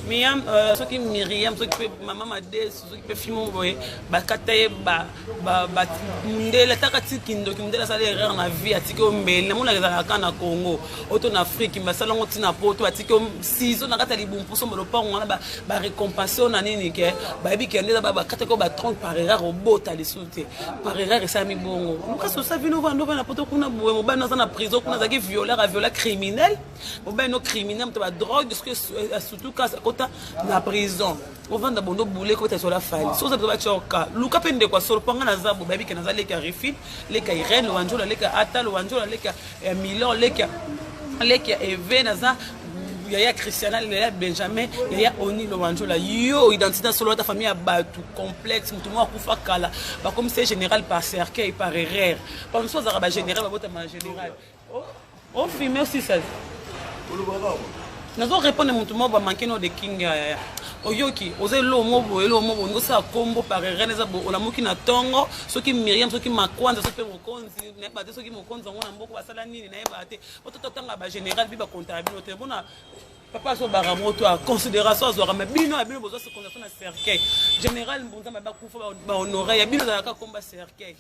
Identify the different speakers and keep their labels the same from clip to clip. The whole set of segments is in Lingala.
Speaker 1: miyam euh, soki miriam soki mpe mama madesu soki mpe fimo boye bakata ye mundele ataka ti kindoki mundele asala erreur na vie atiki yo mbele namonaka ezalaka ka na congo oto na afrike basala yango ntina poto atiki yo sizo na kati ya libumpuso mba lopango wana barekompense yo na nini ke bayebi kende eza bakataki yo batronke par erreur obota lisusu te par erreur esalami bongo lukasi osa vino vanda ovanda poto kuna boye mobali aza na prison kuna azalaki violeur aviola criminel obe no criminel moto ba drogue soki asutu kasi akota na prison ovanda bondo bule kobeta sola fali soki oza ba coka luka mpe ndeko ya solo mpo nga naza bo bayebi ke naza leki ya refit leki ya irene wanjola leki ya atalo wanjola leki ya eh, milor leki ya leki ya eve naza yaya christiana yaya benjamin yaya oni lowanjola yo identité ya solo ata famille ya bato complexe moto moko akufa kala bakomisi ye général par cercueil par erreur bamosusu azalaka bagénéral babotama général o filme osisali nazo répondre motu moko bamanke no de king yaya oyoki oza eloo mo boye eloo mo boye ngosala kombo par erene eza boye olamuki na ntongo soki miriam soki makwanza soki mpe mokonzi nayeba te soki mokonzi yango na mboko basala nini nayeba te ototatanga bagénéral bi bakontaka bino te mpona papa azobaka moto a considération azwaka ma bino ya bino bozwa secondaration na cercueil général mbunza mabe akufa bahonore ya bino ezalaka komba cercueil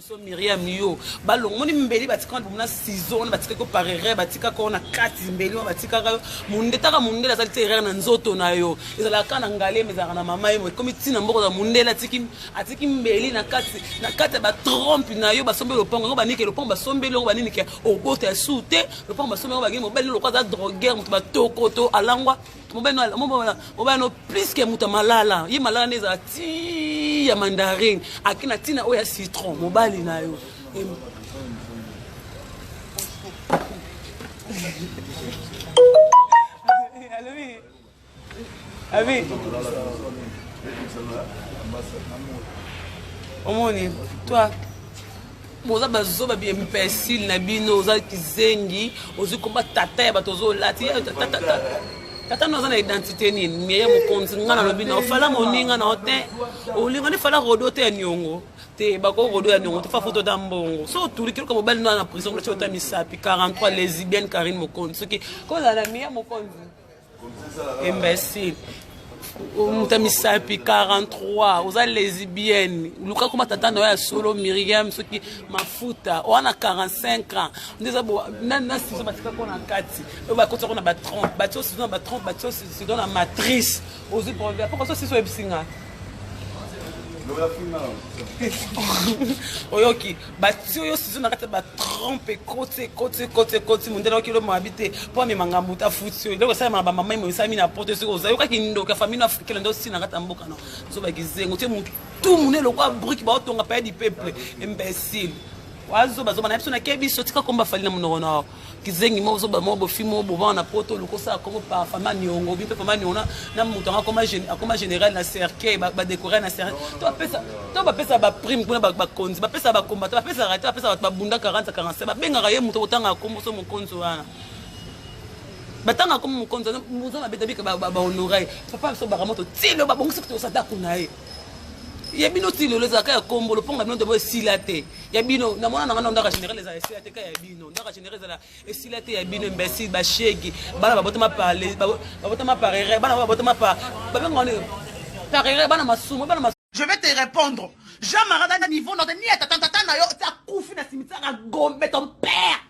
Speaker 1: so miriam yo balongo moni mbeli batika wana bomona sizo wana batika ko par erreur batika ko na kati mbeli wana batikaka yo mondetaka mondele azali te erreur na nzoto na yo ezalaka kaka na ngalema ezalaka na mama ye mo ekomi ntina mboko za mondele atiki atiki mbeli na kati na kati ya batrompe na yo basombeli lopango yango banike lopango basombeli yango banini ke obota ya su te lopango basombeli yango bangi mobali loko aza droguer moto batokoto alangwa mobali no plus ke moto ya malala ye malala nde ezala ti ya mandarine ake na ntina oyo ya citron mobali na yo alobi abi omoni toi boza bazoba bi imbecile na bino oza kizengi ozwi komba tata ya bato ozolati tata no aza na identité nini meye mokonzi nga nalobi na ofala moninga na te olinga nde fala rodo te ya niongo te bako rodo ya niongo te fa foto ta mbongo so otuli kiloka mobali no na prison kolati ota misapi 43 lesibienne karine mokonzi soki kozala na miya mokonzi imbecile moto ya misapi 43 oza lesbienne luka koma tata na yo ya solo miriam soki mafuta wana 45 ans nde eza na sizo batika ko na kati oyo bakotisa ko na ba 30 batio sizo na ba 30 batio sizo na matrice ozwi problème poko so sizo oyebisi nga oyoki batio yo sizo na kati ya batrompe ekoti ekoti ekoti ekoti mondele oki elo mabi te mpo amema ngambo te afuti yo eloko esalama na bamama emonisami na poto soki oza yokaki ndoki ya famille africaine nde osi na kati ya mboka no zoba kizengo te motu tu mune lokwa briki baotonga paya di peuple imbecile wazoba zoba na biso nakebi biso tika komba fali na monoko nao kizengi moko zoba moko bofi moko bobana na poto oluka osala koko pa fama niongo obi mpe fama niongo na moto yango akoma général na cercueil badécore na cercueil to bapesa baprime kuna bakonzi bapesa bakombata bapesaka te bapesa bato babunda 40 45 babengaka ye moto kotanga komboso mokonzi wana batanga komi mokonzi wana moza mabe tabika bahonora ye papa biso bakama totilo babongisi kutu osata kuna ye ya bino ti lelo ezalaka ya kombolo mponga bino nde boesila te ya bino na mwana na ngai na ndaka général ezala esila te ka ya bino ndaka genere ezala esila te ya bino imbecile bashegi bana babotama babotama par erreur bana babotama par babenga wana par erreur bana masumu bana masumu Je vais te répondre.
Speaker 2: Jean Marada na niveau notre ni tata tata na yo ta kufi na cimetière à Gombe ton père.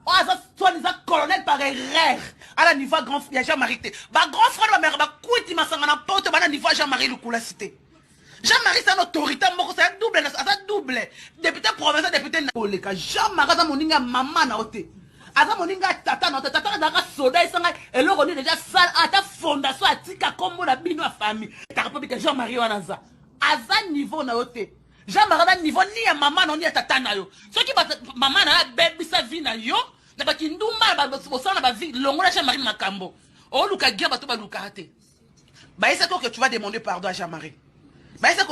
Speaker 2: Oh ça soit les colonel par erreur. À la niveau grand ya Jean Marie te. Ba grand frère ba mère ba kuiti masanga na poto ba na niveau Jean Marie Lukula cité. Jean Marie c'est un autoritaire moko c'est un double aza double député provincial député na oleka Jean Marie aza moninga ya mama na ote aza moninga ya tata na ote tata azalaka soda esanga eloko nini deja sale ata fondation atika kombo na bino ya famille taka po bika Jean Marie wana aza aza niveau na yo te Jean Marie aza niveau ni ya mama na yo ni ya tata na yo soki mama na yo abebisa vie na yo na bakindumba bosala na bavi longola Jean Marie makambo oluka gia bato balukaka te bayesaki oke tu vas demander pardon à jean marie bayesaki